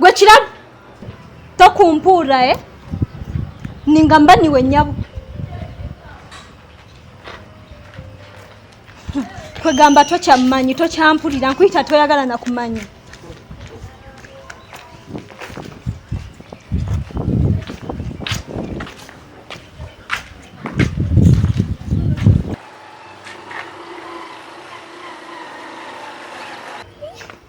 gwe kirabo tokumpuura e eh? ninga mba niwe nyabo kwegamba tokyammanyi tokyampulira nkuyita toyagala nakumanya Yeah.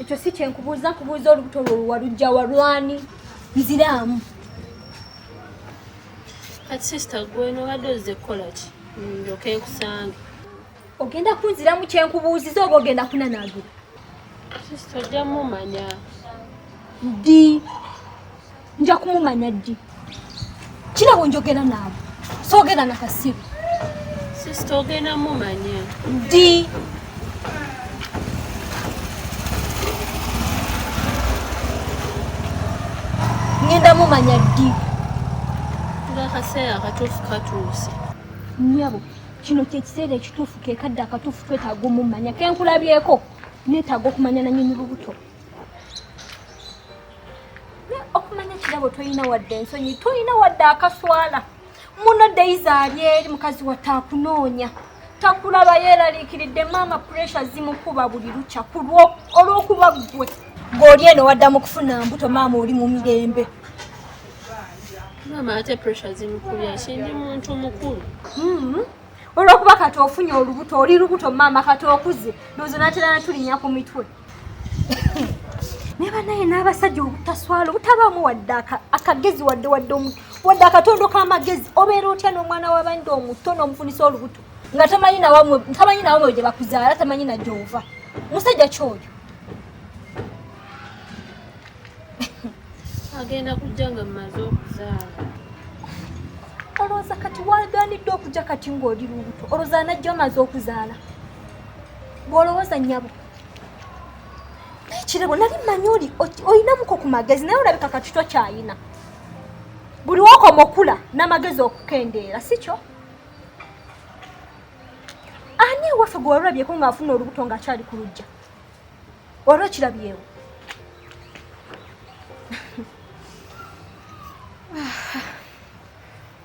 ekyo si kyenkubuuza kubuuza olubuto lwo luwalujja walwani nziraamu kati sisita gweno obadde ozze kukola ki ndoka ekusange ogenda kunziramu kyenkubuuziza oba ogenda kunanaagira sisita ojja mumanya ddi nja kumumanya ddi kirabo njogera naabo soogera na kasiru sisita ogenda mumanya ddi ngenda mumanya ddi ngakaseera akatuufu katuuse nyabo kino kyekiseera ekituufu kekadde akatuufu twetaaga omumanya kenkulabyeko netaaga okumanya nanyini lubuto okumanya kirabo tolina wadde ensonyi tolina wadde akaswala muno deiza ali eri mukazi watte akunoonya takulaba yeeraliikiridde maama puresha zimukuba buli lukya kulwo olw'okuba ggwe ng'oli eno waddamu kufuna mbuto maama oli mu mirembe maama ate puresha zimukubya kindi muntu mukulu mm-hmm. olwokuba kati ofunye olubuto oli lubuto maama kati okuze nozo natera natulinya ku mitwe naye banaye n'abasajja obutaswala obutabaamu wadde akagezi wadde wadde wadde akatondo k'amagezi obeera otya n'omwana w'abandi omuto n'omufunisa olubuto nga tamanyi nawamwe tamanyi nawamwe gye bakuzaala tamanyi na gyova musajja kyoyo agenda kujja nga mumaze okuzaala olowooza kati waganidde okujja kati ng'oli lubuto olowooza anajja omaze okuzaala bw'olowooza nyabo naye kirabo nali mmanyi oli olinamuko ku magezi naye olabika kati tokyayina buli wokoma okula n'amagezi okukendeera si kyo ani ewaffe gwe walulabyeko ng'afuna olubuto ng'akyali ku lujja wali okirabyewo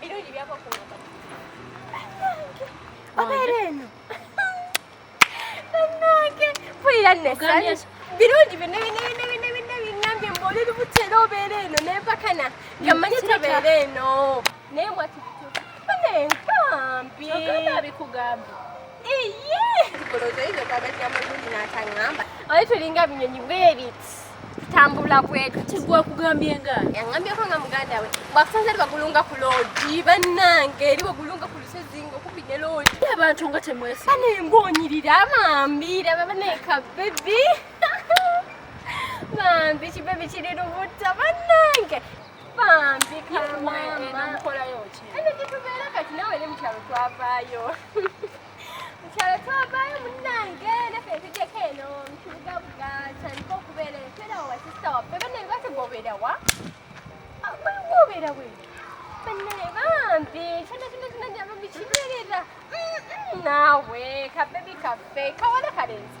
Birungi byava ku mama. Obeera eno. Bannange mpulira nnessanyu. Birungi bino bino bino bino bino bingambye mbu oli lubuto era obeera eno ne mpakana nga mmanyi tobeera eno. Naye mwati bituufu. Bannange nkambi. Kyogamba bikugambye. Oyo tulinga binyonyi bwebiti tambula bwetu tigwakugambye nga yangambyeko nga muganda we bwakusanze eri bagulunga ku loogi bannange eri bagulunga ku lusozi ngaokubi ne loogi abantu nga temwesi bane ngonyirira bambi laba baneka bebi bambi kibebi kiri lubuta bannange bambi kamukolayo ki eno gyetubeera kati nawe ne mukyalo twavaayo mukyalo twavaayo munange nafe tugyeko eno mukibugabuga tandika okubeera eyo twerawo wasista waffe banaye bategwobeerawa gwobeerawe banaye bambi kyona kyona kyona njaba mukibeerera naawe kabebi kaffe kawala kalenzi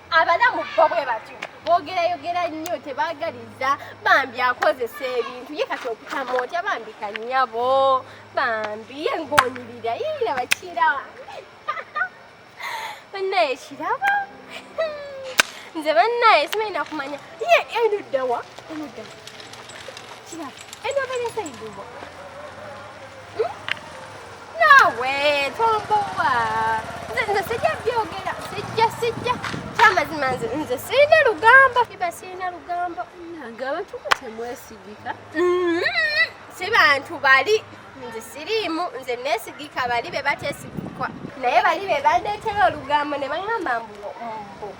abalamu bo bwe batyo bogerayogera nnyo tebagaliza bambi akozesa ebintu ye kati okutama otya bambi kanyabo bambi ye ngonyirira yira bakira banaye kiraba nze banaye simanyi nakumanya ye enuddawa enuddawa Kira, eno bene sai dubo. Hmm? Nawe, tombowa. Nze nze sija byogera, sija sija. Chama zimanze, nze sina lugamba, kiba sina lugamba. Nagaba tukutemwesigika. Mm. Sibantu bali nze siriimu nze nesigika bali be batesigikwa naye bali be bandeetera olugambo ne baŋamba mbu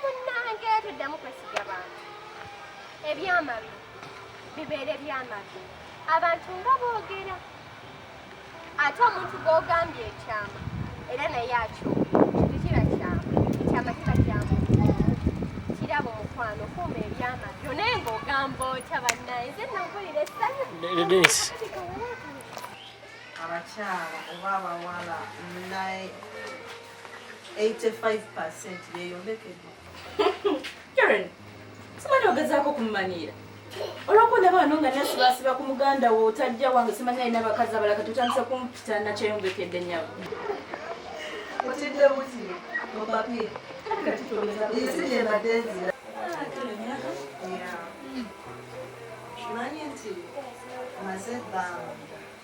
munnange tuddamu kwesiga bantu ebyamabi bibeere byamabi abantu nga boogera ate omuntu gw'ogambye ekyama era naye akyogera tekiba kyama ekyama kiba kyamu kiraba omukwano kuuma ebyama byo naye ng'ogamba otya bannaye ze nampulira essanyu abakyala oba abawala naye 85% yeyombekedde karen simanyi ogezaako okumumaniira olwokuba ndaba wano nga nasibaasiba ku muganda wo otajja wange simanyi alina abakazi abala kati otandisa kumpita nakyeyombekedde nyabo otidde buti mupapye isi gyembadde nzira manyi nti maze ebbanga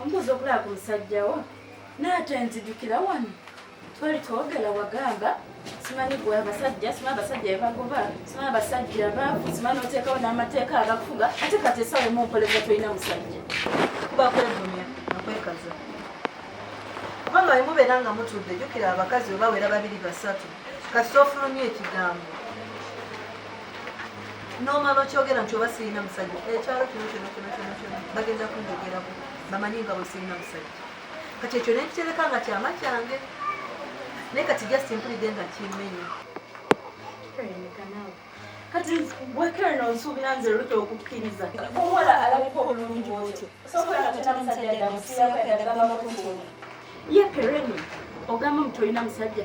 omubuuza okulaba ku musajjawo naate nzijukira wano twali twogela wagamba simanyi gwe abasajja simanyi abasajja bebagoba simanyi abasajja baavu simanyi oteekawo n'amateeka agakufuga ate kati esawa emu nkoleza tolina musajja kuba kwevumya nakwekaza kubanga wemubeera nga mutudde jukira abakazi webawera babiri basatu kasita ofulumya ekigambo nomala okyogera nti oba sirina musajja ekyalo kino kino kino kino kino bagenda kunjogerako bamanyi nga bwe sirina musajja kati ekyo nekitereka nga kyama kyange naye kati just mpulidde nga kimenya kati wekere nonsuubira nze luta okukkiriza omuwala alabika obulungi otyo sokola tolina musajja damusiyako yadagamba makuntuni ye pereni ogamba omu tolina musajja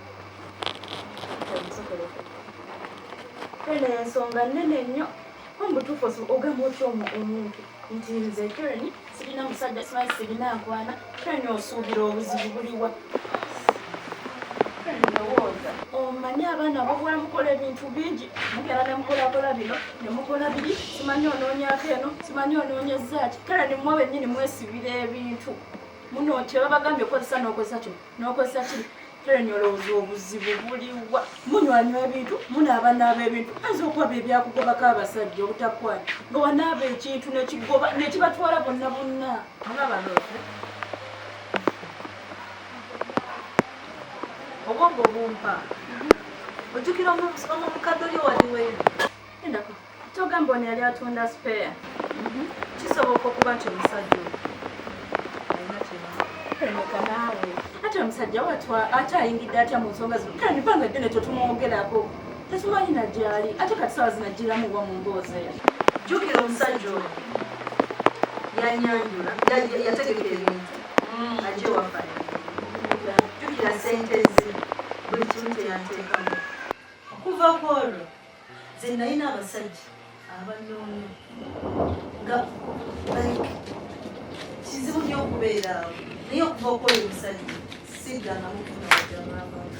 eno ensonga nene nnyo omutuufu ogamba otya omuntu nti nze kereni sirina musajja simanyi sirina nkwana kereni osuubira obuzibu buliwa omanyi abaana bobula mukola ebintu bingi mugera nemukolakola bino nemukola biri simanyi onoonyako eno simanyi onoonyezaaki kereni mwe benyini mwesibira ebintu muno nti babagambye okozesa n'okozesa kino Nokozesa ki? Helen olowooza obuzibu buliwa? Munywanywa ebintu, munaaba naaba ebintu, ayinza okuba bye byakugobako abasajja obutakwana nga wanaaba ekintu nekigoba nekibatwala bonna bonna. Olaba loote obwongo bumpa ojjukira omukadde oli owaliweeri endako Togamba ono yali atunda spare. Mhm. Kisoboka okuba nti omusajja ate omusajja watwa ate ayingidde atya mu nsonga zino kale nibanga ddene tetumwogerako tetumanyi na gyali ate kati sawa zinajjiramu wa mu mboozi eyo jjukira omusajja oyo yanyanjula yategeka ebintu mm. ajewafa jjukira sente ze buli kimu teyanteekamu okuva kwolwo nze nalina abasajja abanoonya nga like kizibu nyo okubeera awo naye okuva okola omusajja siddangamu kunawajaaabantu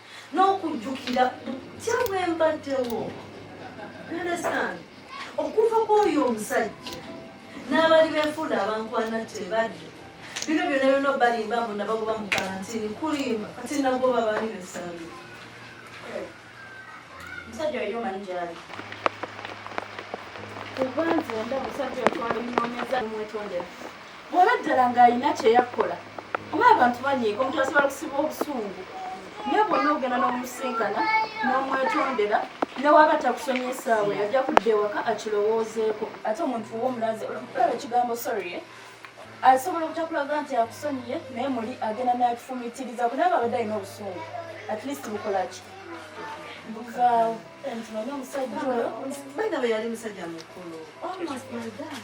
n'okujjukira butya bwe mbaddewo understand okuva kw'oyo omusajja n'abali beefuula abankwana tebadde bino byona byona obalimba mbu nabagoba mu kalantini kulimba kati nagoba baani besabi omusajja oyo omanyi gyali kubanzi onda omusajja otwala eminonyeza mumwetondera bwaba ddala ng'alina kyeyakkola oba abantu banyiiga omuntu asobola kusiba obusungu naye bwonna ogenda n'omusinkana n'omwetondera newaba takusomya esaawa yajja kudda ewaka akirowoozeeko ate omuntu womulaze olaba ekigambo sorry eh? asobola obutakulaga nti akusonyiye naye muli agenda nakifumitiriza kunaba abadde alina obusungu at least bukolaki buvaawo nti manye omusajja oyo baina beyali musajja mukulu almost my dad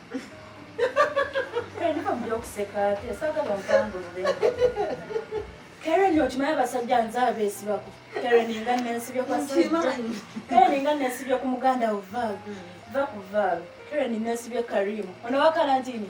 Karen okimanyi abasajja nze abeesibako Karen nga nensibye kwa Karen nga nensibye ku muganda wo Val va ku Val Karen nensibye Karim ono wa kalantini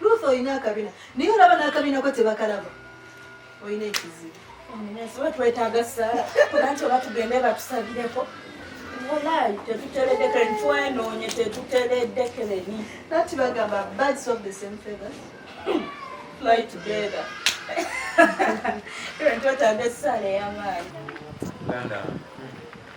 Ruth oyina akabina naye olaba n'akabina ko tebakalaba oyina ekizibu omunensobe twetaaga ssaala kuba nti oba tugende batusabireko walayi tetuteredekere ntwenoonye tetuteredekereni nati bagamba birds of the same feathers fly together twetaaga essaala ey'amaanyi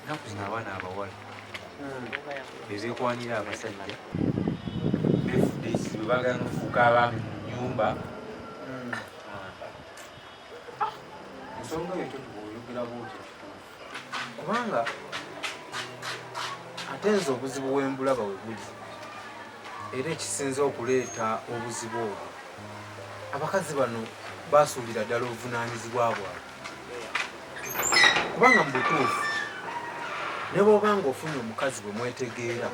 ennaku zino abaana abawala bezekwanira abasajja befudde ekizibu bagana okufuuka abaami mu nyumba ensonga yekyo tubaoyogera bwotyo kubanga ate nze obuzibu wembulaba webuli era ekisinze okuleeta obuzibu obwo abakazi bano basuulira ddala obuvunanyizibwa bwabwe kubanga mu butuufu ne bwoba nga ofunye omukazi bwe mwetegeera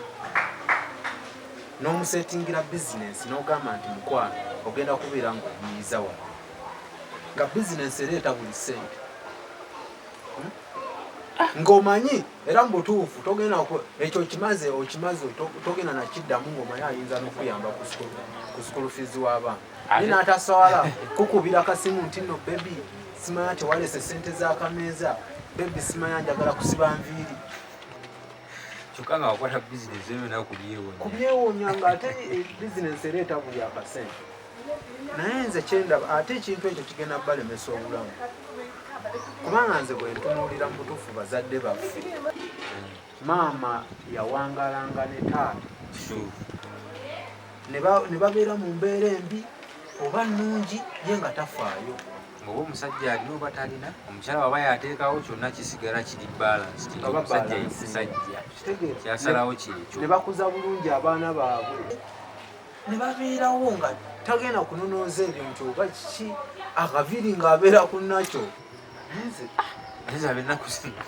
n'omusetingira bizinensi n'ogamba nti mukwano ogenda kubeera nga omuyiza wano nga bizinensi ereeta buli ssente hmm? ah. ng'omanyi era mu butuufu togenda ekyo okimaze okimaze togenda nakiddamu ng'omanyi ayinza n'okuyamba ku sukulu fiizi w'abaana ani nataswala kukubira kasimu nti no bebi simanya tewalese sente zakameeza bebi simanya njagala kusiba nviiri kyokka nga wakwata bizinesi eyo nawe kubyewonya kubyewonya nga ate eh, bizinesi ereeta buli akasente naye nze kyendaba ate ekintu ekyo kigenda balemesa obulamu kubanga nze bwentunuulira mu butuufu bazadde baffe maama yawangalanga ne taata ne babeera mu mbeera embi oba nnungi ye nga tafaayo ngaoba omusajja alina oba talina omukyala waba yateekawo kyonna kisigala kiri balance omusajja yemusajja kyasalawo kyekyo ne bakuza bulungi abaana baabwe ne babeerawo nga tagenda kunonooza ebyo nti oba kiki akaviri ng'abeera ku nakyo Nze abina kusina.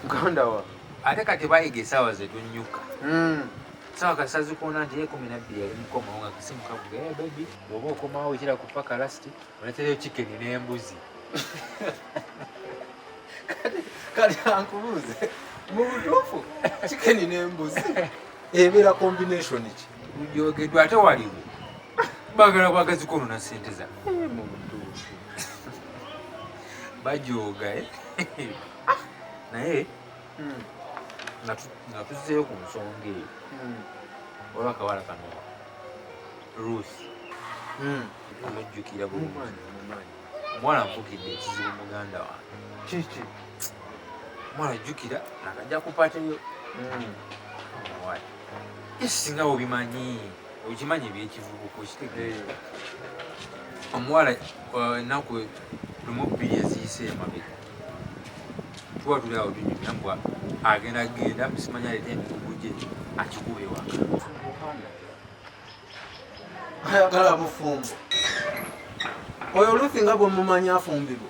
Muganda wa. Ate kati bayiga esaawa ze tunnyuka. Mm. Sawa kati sazikuona nti ekumi nabbiri yali mukomawo nga kasimu kavuga e bebi oba okomawo ekira ku paka lasti oletereyo chicken n'embuzi. Kati ankubuuze mu butuufu chicken n'embuzi ebeera combination ki? Mujogeddwa ate waliwo bagala bwagazi kwonona sente za eh, bajooga eh? ah. naye hmm. nga tuzzeyo ku nsonga eyo hmm. oba akawala kano ruth hmm. omujjukira bulungi omwana nfukidde ekizibu muganda wange kiki omwana jjukira nakajja kupatiyo esinga obimanyi okimanyi ebyekivubuka okitegeera eh. omuwala uh, enaku lumu bbiri eziyise emabega tuba tuli awo tunyumya mbwa agenda genda musimanya aleta emikugu gye akikuba ewaka ayagala bufumbo oyo olufi nga bwemumanyi afumbirwa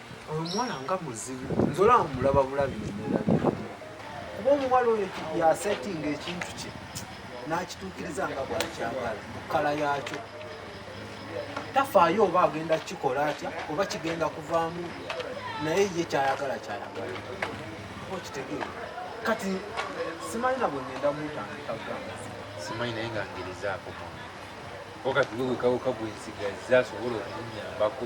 omuwala nga muzibu nze olaba mulaba bulabi nemwerabira kuba omuwala oyo yasetinga ekintu kye n'akituukiriza nga bwakyagala kala yakyo tafaayo oba agenda kukikola atya oba kigenda kuvaamu naye ye kyayagala kyayagala okitegeera kati simanyi nabwe ngenda mutandika gamba simanyi naye nga ngirizaako kati wewekaweka gwensigaza asobola okumunyambako